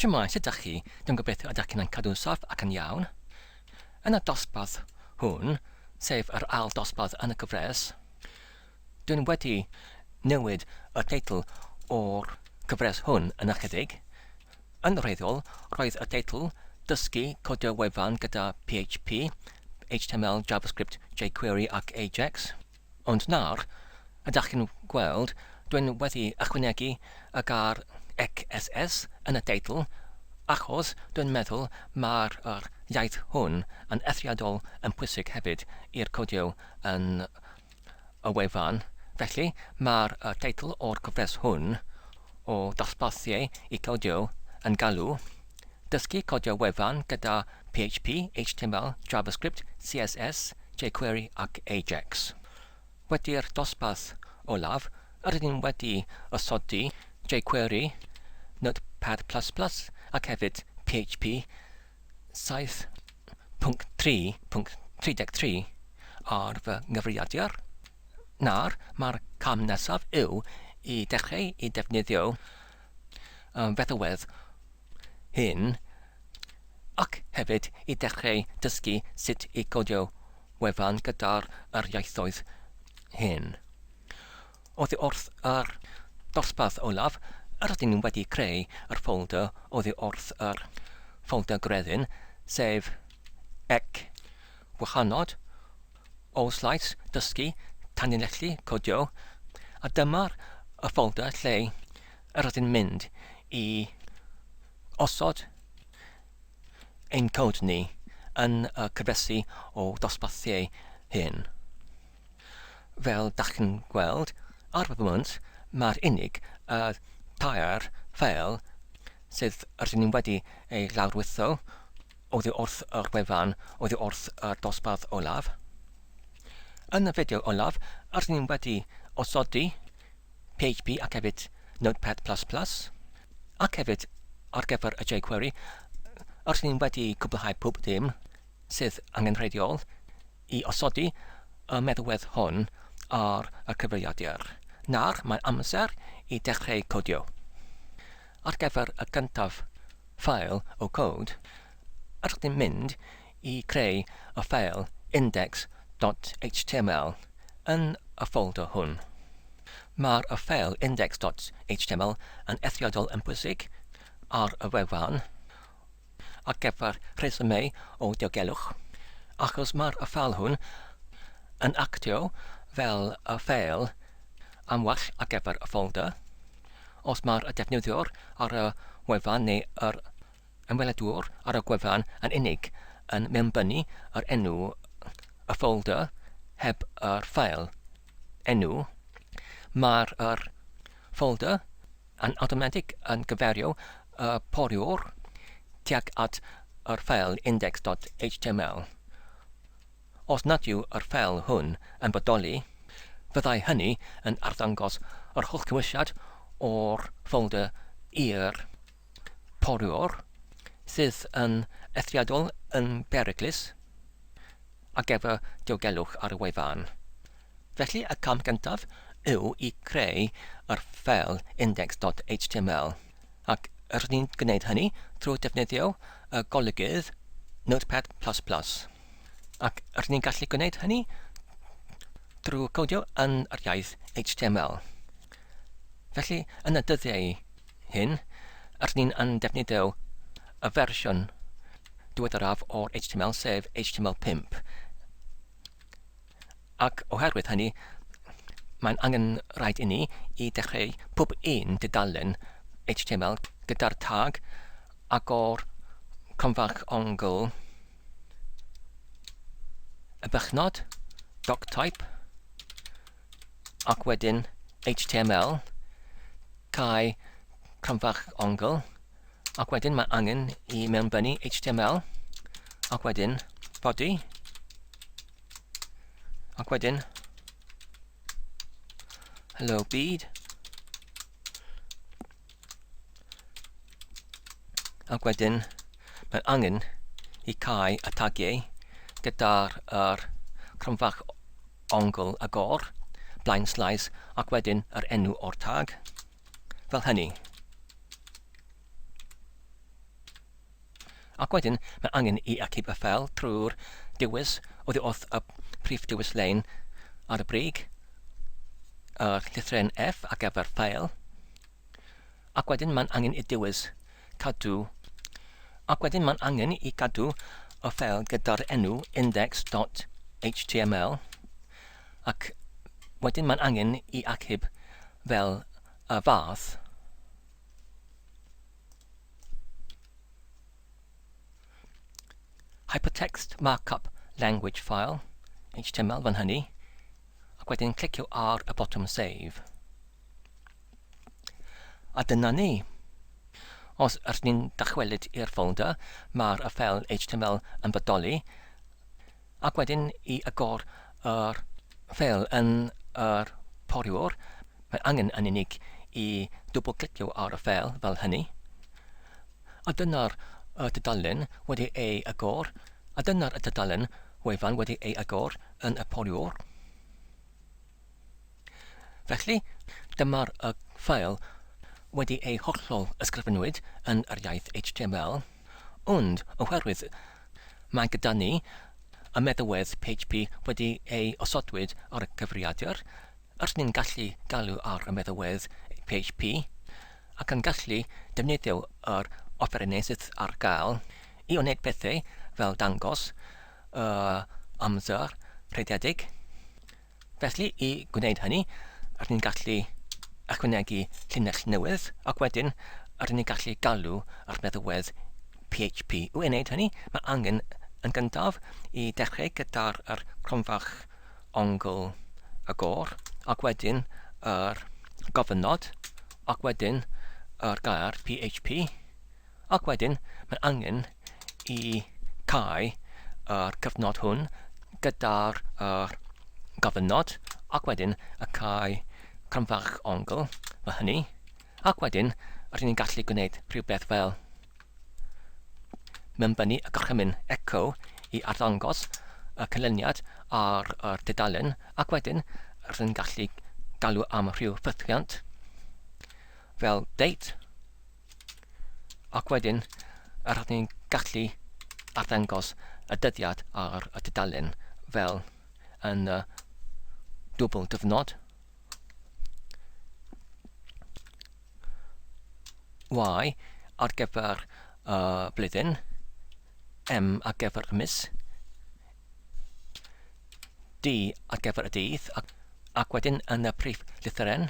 Shwmae, sut dach chi? Dwi'n gobeithio y dach chi'n yn cadw'n saff ac yn iawn. Yn y dosbarth hwn, sef yr ail dosbarth yn y gyfres, dwi'n wedi newid y teitl o'r gyfres hwn yn ychydig. Yn wreiddiol, roedd y teitl Dysgu codio wefan gyda PHP, HTML, JavaScript, jQuery ac Ajax. Ond nawr, ydach chi'n gweld, dwi'n wedi ychwanegu y gair XSS yn y deitl achos dwi'n meddwl mai'r yr iaith hwn yn eithriadol yn pwysig hefyd i'r codio yn y wefan, felly mae'r y teitl o'r gyfres hwn o ddosbarthiau i codio yn galw Dysgu codio wefan gyda PHP, HTML, JavaScript, CSS, jQuery ac Ajax. Wedi'r dosbarth olaf, rydyn ni'n wedi osodi jQuery, Notepad++ ac hefyd PHP 7.3.33 ar fy nghyfrifiadur. Nawr, mae'r cam nesaf yw i dechreu i ddefnyddio am feddalwedd hŷn ac hefyd i ddechrau dysgu sut i godio wefan gyda'r yr ieithoedd hyn. Oddi wrth yr dosbarth olaf, rydyn ni wedi creu yr ffolder oddi wrth yr ffolder gredyn, sef ec gwahanod o Slais Dysgu Tanlinellu Codio a dyma'r y ffolder lle yr ydyn mynd i osod ein cod ni yn y cyfresi o ddosbarthiau hyn. Fel dach chi'n gweld ar y foment mae'r unig y tair ffeil sydd ydyn ni wedi ei lawrlwytho, Oddi wrth y wefan, oddi wrth y dosbarth olaf. Yn y fideo olaf, rydyn ni wedi osodi PHP ac hefyd Notepad++, ac hefyd ar gyfer y jQuery, rydyn ni wedi cwblhau pob dim sydd angenrheidiol i osodi y meddwedd hwn ar y cyfrifiadur. Nawr mae amser i dechreu codio. Ar gyfer y cyntaf, Ffeil o Cod, ydych chi'n mynd i creu y ffeil index dot html yn y ffolder hwn. Mae'r ffeil index dot html yn eithriadol yn bwysig ar y wefan. ar gyfer rhesymau o diogelwch, achos mae'r ffeil hwn yn actio fel y ffeil am well ar gyfer y ffolder, os mae'r defnyddiwr ar y wefan neu yr ymweledwr ar y gwefan yn unig yn mewnbynnu yr enw y ffolder heb yr ffeil enw, mae'r ffolder yn awtomatig yn cyfeirio y poriwr tuag at yr ffeil index.html. Os nad yw yr ffeil hwn yn bodoli, fyddai hynny yn arddangos yr holl gymwysiad o'r ffolder i'r poriwr, sydd yn eithriadol yn beryglus ar gyfer diogelwch ar y wefan. Felly y cam gyntaf yw i creu yr ffeil index.html ac rydyn ni'n gwneud hynny trwy defnyddio y golygydd Notepad++, ac rydyn ni'n gallu gwneud hynny drwy codio yn yr iaith HTML. Felly, yn y dyddiau hyn, rydyn ni'n yn defnyddio y fersiwn diweddaraf o'r HTML sef HTML5. Ac oherwydd hynny, mae'n angen rhaid inni i dechreu pob un dudalen html gyda'r tag agor cromfach ongl y bychnod, doctype, ac wedyn html, cau cromfach ongl, ac wedyn mae angen i mewnbynnu html, ac wedyn body, Ac wedyn, hello byd. Ac wedyn, mae angen i cael y tagiau gyda'r er, cromfach ongl agor, blaen slais, ac wedyn yr enw o'r tag, fel hynny. Ac wedyn mae angen i achub y ffeil trwy'r dewis oddi wrth y prif dewis lein ar y brig, y llythren F ar gyfer ffeil, ac wedyn mae'n angen i dewis cadw, ac wedyn mae'n angen i gadw y ffeil gyda'r enw index.html, ac wedyn mae'n angen i achub fel y fath. Hypertext Markup Language File, HTML fan hynny, ac wedyn clicio ar y botwm Save. A dyna ni. Os ydych ni'n dychwelyd i'r ffolder, mae'r ffeil HTML yn bodoli, Ac wedyn i agor yr. Fel yn yr poriwr, mae angen yn unig i dwbl-glicio ar y ffeil fel hynny. A dyna'r y tudalen wedi ei agor, a dyna'r y tudalen wefan wedi ei agor yn y poriwr. Felly, dyma'r y ffael wedi ei hollol ysgrifennwyd yn yr iaith HTML, ond oherwydd mae gyda ni y meddalwedd php wedi ei osodwyd ar y cyfrifiadur, r'yn ni'n gallu galw ar y meddalwedd php ac yn gallu defnyddio yr offerynnau sydd ar gael i wneud pethau fel dangos yr amser rhediedig, Felly, i gwneud hynny, rydyn ni'n gallu ychwanegu llinell newydd, ac wedyn rydyn ni'n gallu galw ar feddywedd PHP. I wneud hynny, mae angen yn gyntaf i dechrau gyda'r er cronfach ongl y gor, ac wedyn yr er gofynnod, ac wedyn yr er gair PHP. Ac wedyn mae angen i cau yr cyfnod hwn gyda'r yr gofynnod ac wedyn y cau cromfach ongl fel hynny ac wedyn rydyn ni'n gallu gwneud rhywbeth fel mewnbynnu y gorchymyn echo i arddangos y canlyniad ar yr dudalen ac wedyn rydyn ni'n gallu galw am rhyw ffythiant fel date Ac wedyn, rydyn ni'n gallu arddangos y dyddiad ar y tudalen fel yn y dwbl dyfnod. Y ar gyfer y blwyddyn, M ar gyfer y mis, D ar gyfer y dydd, ac, ac wedyn yn y prif lythyren,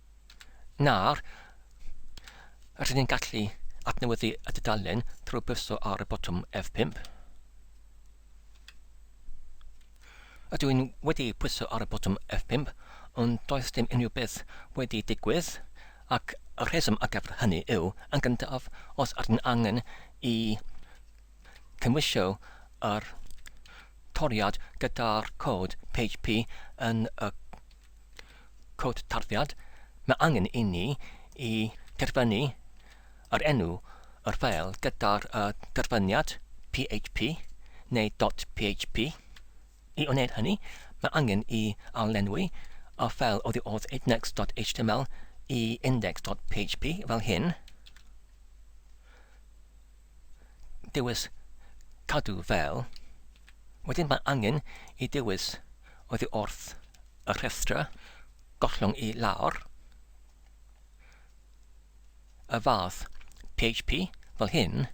Nawr, rydyn ni'n gallu adnewyddu y dudalen trwy bwyso ar y botwm F5. Ydw i'n wedi pwyso ar y botwm F5, ond does dim unrhyw beth wedi digwydd, ac y rheswm ar gyfer hynny yw, yn gyntaf, os ydyn angen i cymwysio yr toriad gyda'r cod PHP yn y Cod tarddiad, Mae angen inni i derfynu yr enw o'r ffeil gyda'r y derfyniad php neu dot php. I wneud hynny, mae angen i arlenwi y ffeil oddi wrth index.html i index.php fel hyn. dewis cadw fel, wedyn mae angen i dewis oddi wrth y rhestra gollwng i lawr, y fath PHP fel hyn,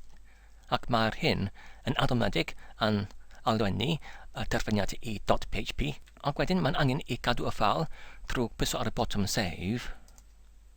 ac mae'r hyn yn awtomatig yn alenwi y derbyniad i .php, ac wedyn mae'n angen i gadw y ffeil trwy pwyso ar y botwm Save.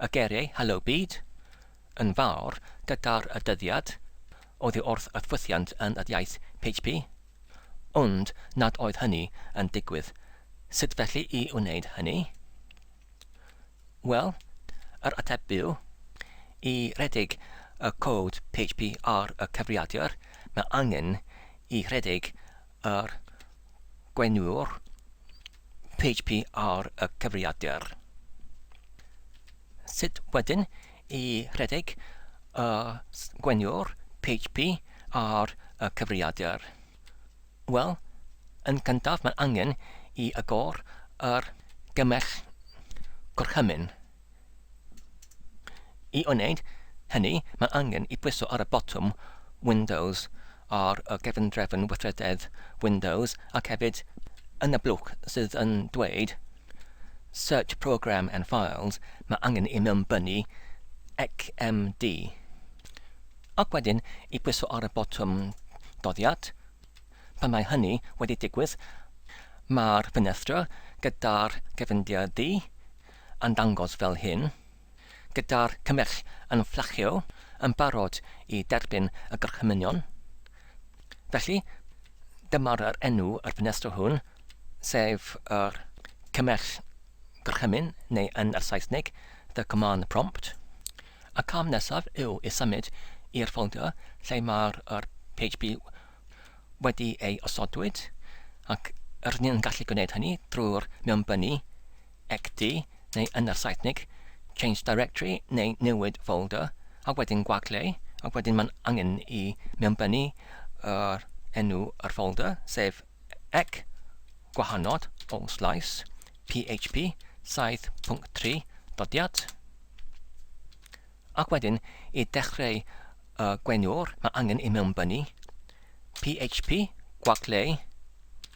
Y geiriau 'Helo Byd', 'Yn Fawr', 'Gyda'r y Dyddiad', oddi wrth y ffwythiant yn yr iaith PHP. Ond nad oedd hynny yn digwydd. Sut felly i wneud hynny? Wel, yr ateb byw, i redeg y cod PHP ar y cyfrifiadur, mae angen i redeg Yr Gweiniwr, PHP ar y cyfrifiadur. Sut wedyn i rhedeg y Gweiniwr, PHP ar y cyfrifiadur? Wel, yn gyntaf mae'n angen i agor yr gymell gorchymyn. I wneud hynny, mae angen i bwyso ar y botwm 'Windows' ar y cefndrefn weithrededd Windows ac hefyd yn y blwch sydd yn dweud 'Search Program and Files' mae angen i mewnbynnu 'XMD'. Ac wedyn i bwyso ar y botwm 'Doddiad'. Pan mae hynny wedi digwydd, mae'r ffenestr gyda'r cefndir du, yn dangos fel hyn, gyda'r cymell yn fflachio yn barod i derbyn y gorchmynion. Felly, dyma'r yr enw yr ffenestr hwn, sef yr cymell gorchymyn, neu yn yr Saesneg, the command prompt. Y cam nesaf yw i symud i'r ffolder lle mae'r yr PHP wedi ei osodwyd, ac rydyn ni'n gallu gwneud hynny drwy'r mewnbynnu Xd, neu yn yr Saesnig, change directory neu newid folder, a wedyn gwagle, ac wedyn mae'n angen i mewnbynnu yr enw yr folder, sef ec, gwahanod, all slice, php 7.3, dodiad. Ac wedyn, i dechreu y gwenwr, mae angen i mewnbynnu php, gwagle,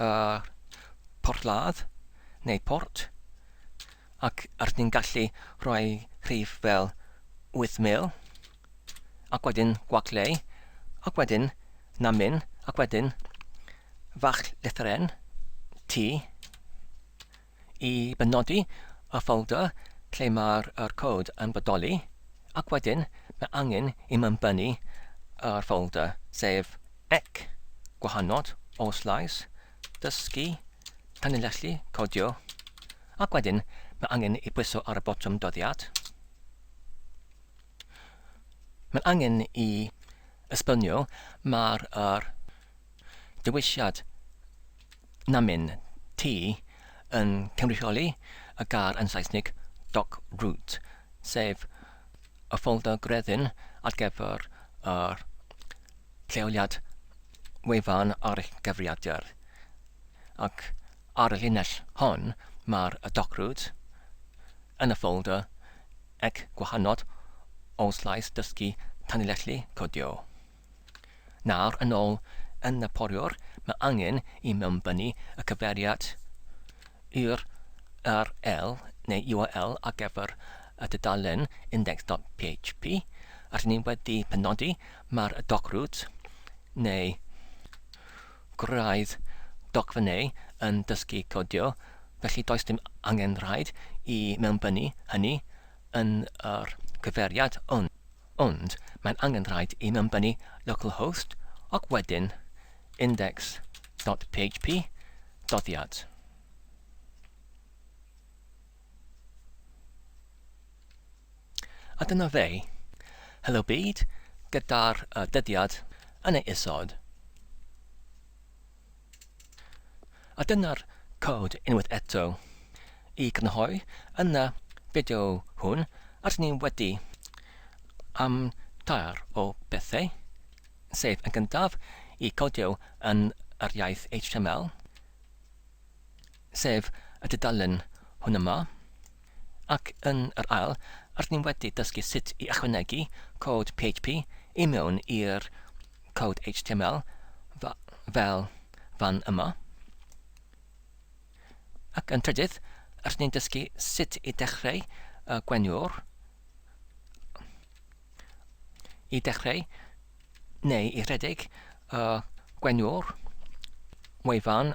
y porthladd neu port, ac rydyn ni'n gallu rhoi rhif fel 8000, ac wedyn gwagleu, ac wedyn na min, ac wedyn fach lethr N, T, i benodi y ffolder lle mae'r yr cod yn bodoli, ac wedyn mae angen i mi ymbennu yr ffolder, sef ec, gwahanod, os lais, dysgu, tanlinellu, codio, ac wedyn mae angen i bwyso ar y botwm dyddiad. Mae'n angen i esbonio mae'r yr dewisiad namyn T yn cynrychioli y gair yn Saesneg dock root, sef y ffolder gwreiddi'n ar gyfer yr lleoliad wefan ar eich cyfrifiadur, ac ar y llinell hon mae'r dock root yn y ffolder ec gwahanod o slais dysgu tanlinellu codio. Nawr, yn ôl yn y poriwr, mae angen i mewnbynnu y cyfeiriad url neu url ar gyfer y dudalen index.php rydyn ni wedi penodi, mae'r docrwt neu gwraidd dogfennau yn dysgu codio, felly does dim angen rhaid i mewnbynnu hynny yn yr cyfeiriad hwn. Ond mae'n angen rhaid i ymbennu localhost ac wedyn index dot php doddiad. A dyna fe. Helo byd, gyda'r uh, dyddiad yn ei isod. A dyna'r cod unwaith eto. I grynhoi, yn y fideo hwn, rydyn ni wedi am tair o bethau, sef yn gyntaf, i codio yn yr iaith HTML, sef y dudalen hwn yma, ac yn yr ail, rydyn ni wedi dysgu sut i ychwanegu cod PHP i mewn i'r cod HTML fel fan yma. Ac yn trydydd, rydyn ni'n dysgu sut i dechreu y gweniwr i dechreu neu i rhedeg y gweniwr wefan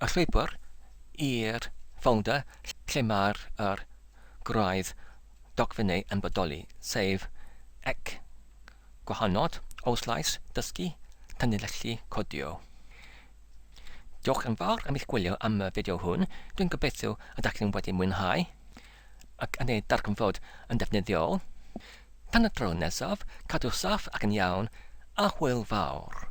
Y llwybr i'r ffolder lle mae'r yr gwraidd dogfennau yn bodoli, sef ec, gwahanod, oslais, dysgu, tanlinellu, codio. Diolch yn fawr am eich gwylio am y fideo hwn, dwi'n gobeithio y dach chi'n wedi mwynhau ac yn ei darganfod yn ddefnyddiol. Tan y tro nesaf, cadw saff ac yn iawn, a hwyl fawr!